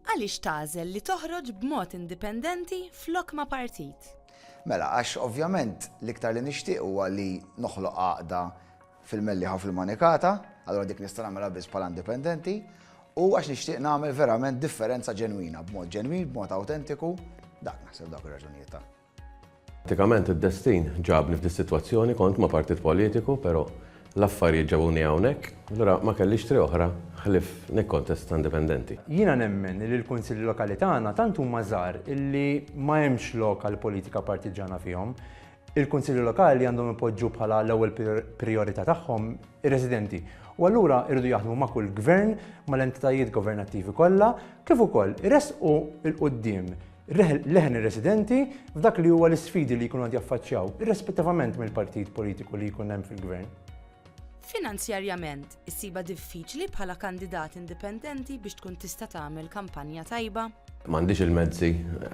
Għaliex tagħżel li toħroġ b'mod indipendenti flok ma' partit? Mela, għax ovvjament l-iktar li nixtieq huwa li noħloq għaqda fil-Mellieħa u fil-Manikata, allura dik nista' nagħmilha biss bħala indipendenti, u għax nixtieq nagħmel verament differenza ġenwina, b'mod ġenwin, b'mod awtentiku, dak naħseb dawk ir-raġunijiet ta'. Pratikament id-destin ġabni f'dis-sitwazzjoni, kont ma' partit politiku, però l-affarijiet ġabuni hawnhekk, allura ma kellix triq oħra ħlief nikkontesta indipendenti. Jiena nemmen li l-Kunsilli Lokali tagħna tant huma żgħar illi ma hemmx lok għall-politika partiġġana fihom. Il-Kunsilli Lokali għandhom ipoġġu bħala l-ewwel prijorità tagħhom ir-residenti u allura jridu jaħdmu ma' kull Gvern, mal-entitajiet governattivi kollha, kif ukoll iressqu 'l quddiem leħen ir-residenti f'dak li huwa l-isfidi li jkunu qed jaffaċċjaw, irrispettivament mill-partit politiku li jkun hemm fil-Gvern. Finanzjarjament, issibha diffiċli bħala kandidat indipendenti biex tkun tista' tagħmel kampanja tajba? M'għandix il-mezzi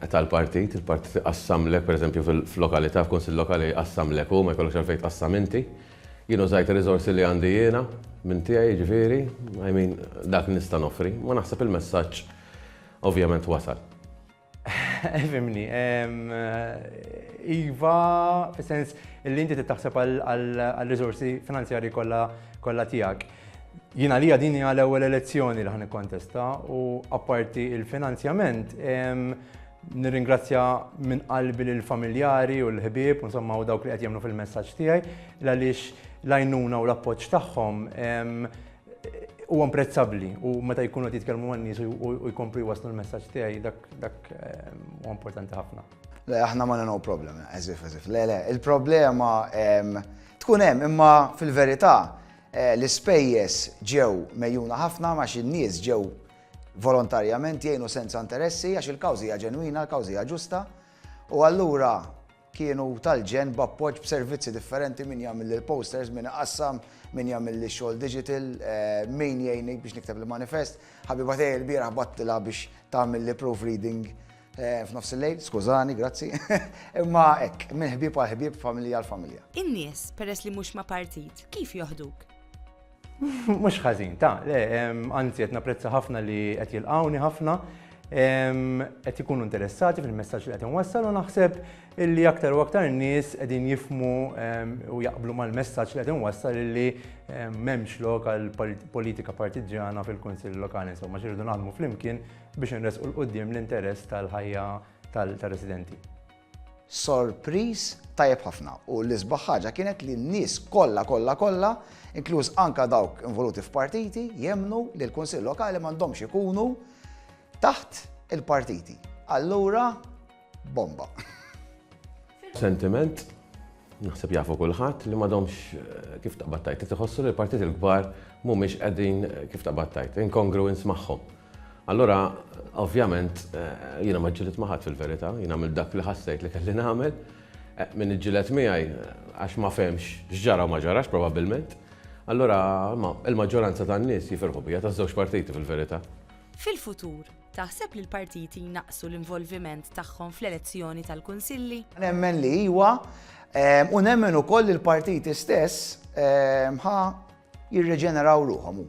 tal-partit, il-partit iqassamlek, pereżempju fil-lokalità, f'kunsill lokali jqassamlek hu, ma jkollokx għalfejn tqassam inti. Jien użajt ir-riżorsi li għandi jiena minn tiegħi jiġifieri, I mean dak li nista' noffri. Ma naħseb il-messaġġ Ovvjament wasal. Fimni, iva, fis-sens li inti tittaħseb għal-rizorsi finanzjari kollha tiegħek. Jina li din għal ewwel elezzjoni li ħan kontesta u apparti il-finanzjament nirringrazzja minn qalbi l familjari u l-ħbieb, insomma u dawk li qed jemnu fil-messaġġ tiegħi, għaliex l-għajnuna u l-appoġġ tagħhom Huwa imprezzabbli u meta jkunu qed jitkellmu man-nies u jkomplu jwaslu l-messaġġ tiegħi dak ehm, huwa importanti ħafna. Le, aħna ma no problem, eżif, eżif. Le, le, il-problema ehm, tkun hemm imma fil-verità eh, l-ispejjeż ġew mejjuna ħafna ma xi nies ġew volontarjament jgħinu senza interessi għax il-kawżija ġenwina, l-kawżija ġusta u allura kienu tal-ġenn b'appoġġ b'servizzi differenti, min jagħmilli l-posters, min iqassam, min jagħmilli x-xogħol digital, min jgħinni biex nikteb il-manifest. Ħabiba tiegħi l-bieraħ battilha biex tagħmilli proofreading f'nofs il-lejl, skużani, grazzi. Imma hekk, minn ħbieb għal ħbieb, familja għal familja. In-nies, peress li mhux ma' partit, kif joħduk? Mhux ħażin, ta' le, anzi qed napprezza ħafna li qed jilqawni ħafna qed ikunu interessati fil-messaġġ li qed inwassal u naħseb illi aktar u aktar nies qegħdin jifmu u jaqblu mal-messaġġ li qed inwassal illi m'hemmx lok għal politika partiġġjana fil-Kunsill Lokali insomma xirridu naħdmu flimkien biex inresqu l-qudiem l-interess tal-ħajja tal-residenti. Sorpriż tajjeb ħafna u l-isbaħ ħaġa kienet li n-nies kollha kollha kollha, inkluż anke dawk involuti f'partiti, jemmnu li l-Kunsill Lokali m'għandhomx ikunu taħt il-partiti. Allura, bomba! Sentiment Naħseb jafu kulħadd li m'għadhomx kif taqbad tgħid, qed iħossu li l-partiti l-kbar mhumiex qegħdin kif taqbad tgħid, incongruence magħhom. Allura, ovvjament, jiena ma ġġilidt ma' ħadd fil-verità, jien għamilt dak li ħassejt li kelli nagħmel, min iġġieled miegħi għax ma fehmx x'ġara u ma ġarax probabbilment, allura il-maġġoranza tan-nies jifirħu bija taż-żewġ partiti fil-verità. Fil-futur, Taħseb li l-partiti jnaqqsu l-involviment tagħhom fl-elezzjoni tal-kunsilli? Nemmen li iwa, u nemmen ukoll li l-partiti stess ħa jirreġeneraw ruħhom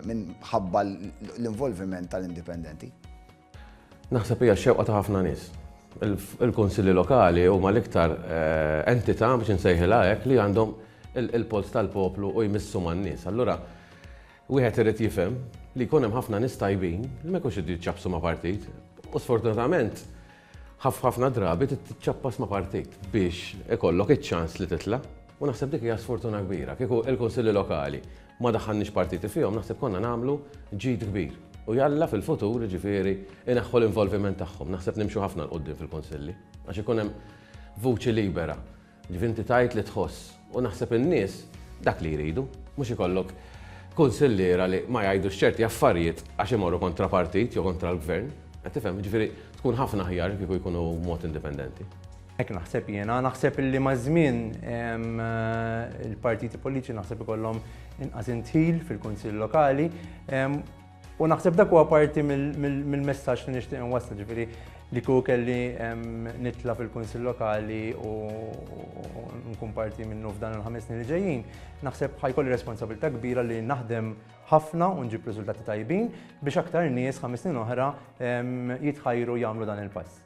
minn ħabba l-involviment tal-indipendenti. Naħseb hija xewqa ta' ħafna nies. Il-kunsilli lokali huma l-iktar eh, entità biex insejħilha hekk li għandhom il-pols tal-poplu u jmissu man-nies. Allura Wieħed irid jifhem li jkun hemm ħafna nies tajbin li ma jkunx iridu jiċċappsu ma' partit u sfortunatament ħafna drabi trid tiċċappas ma' partit biex ikollok iċ-ċans li titla' u naħseb dik hija sfortuna kbira. Kieku l-Kunsilli Lokali ma daħħalniex partiti fihom naħseb konna nagħmlu ġid kbir u jalla fil-futur jiġifieri ineħħu l-involviment tagħhom. Naħseb nimxu ħafna 'l quddiem fil-Kunsilli għax ikun hemm vuċi libera. Jiġifieri inti tgħid li tħoss u naħseb in-nies dak li jridu. Mhux ikollok kunsilliera li ma jgħidux ċerti affarijiet għax imorru kontra partit jew kontra l-Gvern. Qed tifhem? Jiġifieri tkun ħafna aħjar kieku jkunu b'mod indipendenti. Hekk naħseb jiena. Naħseb li maż-żmien il-partiti politiċi naħseb ikollhom inqas indħil fil-Kunsill Lokali. U naħseb dak huwa parti mill-messaġġ li nixtieq inwassal, ġifieri li kieku kelli nitla fil-Kunsill Lokali u nkun parti minnu f'dan il-ħames snin li ġejjin, naħseb ħajkolli responsabilità kbira li naħdem ħafna u nġib riżultati tajbin biex aktar nies ħames snin oħra jitħajru jagħmlu dan il-pass.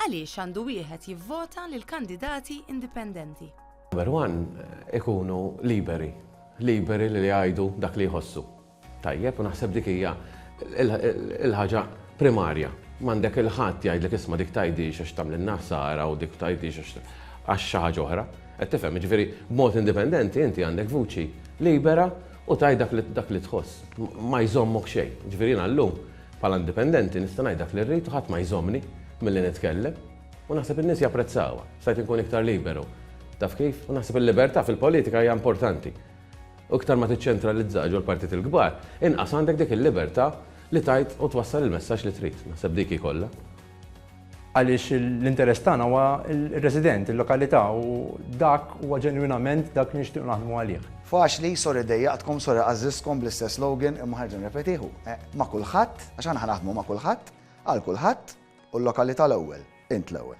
Għaliex għandu wieħed jivvota lil kandidati indipendenti? Number one, ikunu liberi. Liberi li jgħidu dak li jħossu. Tajjeb, u naħseb dik hija l-ħaġa primarja. M'għandek il-ħadd jgħidlek isma' dik tgħidhiex għax tagħmlilna ħsara u dik tgħidhiex għax għax xi ħaġa oħra. Qed tifhem, jiġifieri b'mod indipendenti inti għandek vuċi libera u tgħid dak li dak li tħoss. Ma jżommok xejn. Jiġifieri jiena llum bħala indipendenti nista' ngħid dak li rrid u ħadd ma jżommni milli nitkellem. U naħseb in-nies japprezzawha. Stajt inkun iktar liberu. Taf kif? U naħseb il-libertà fil-politika hija importanti. U iktar ma tiċċentralizza ġol-partit il-kbar, inqas għandek dik il-libertà li tgħid u twassal il-messaġġ li trid. Naħseb dik hi kollha. Għaliex l-interess tagħna huwa r-resident, il-lokalità u dak huwa ġenwinament dak li nixtiequ naħdmu għalih. Faċli, sorry dejjaqtkom, sorry għażżiżtkom bl-istess slogan imma ħerġa nirrepetih hu, ma' kulħadd, għax aħna ħa naħdmu ma' kulħadd, għal kulħadd. U l-lokalità l-ewwel, int l-ewwel.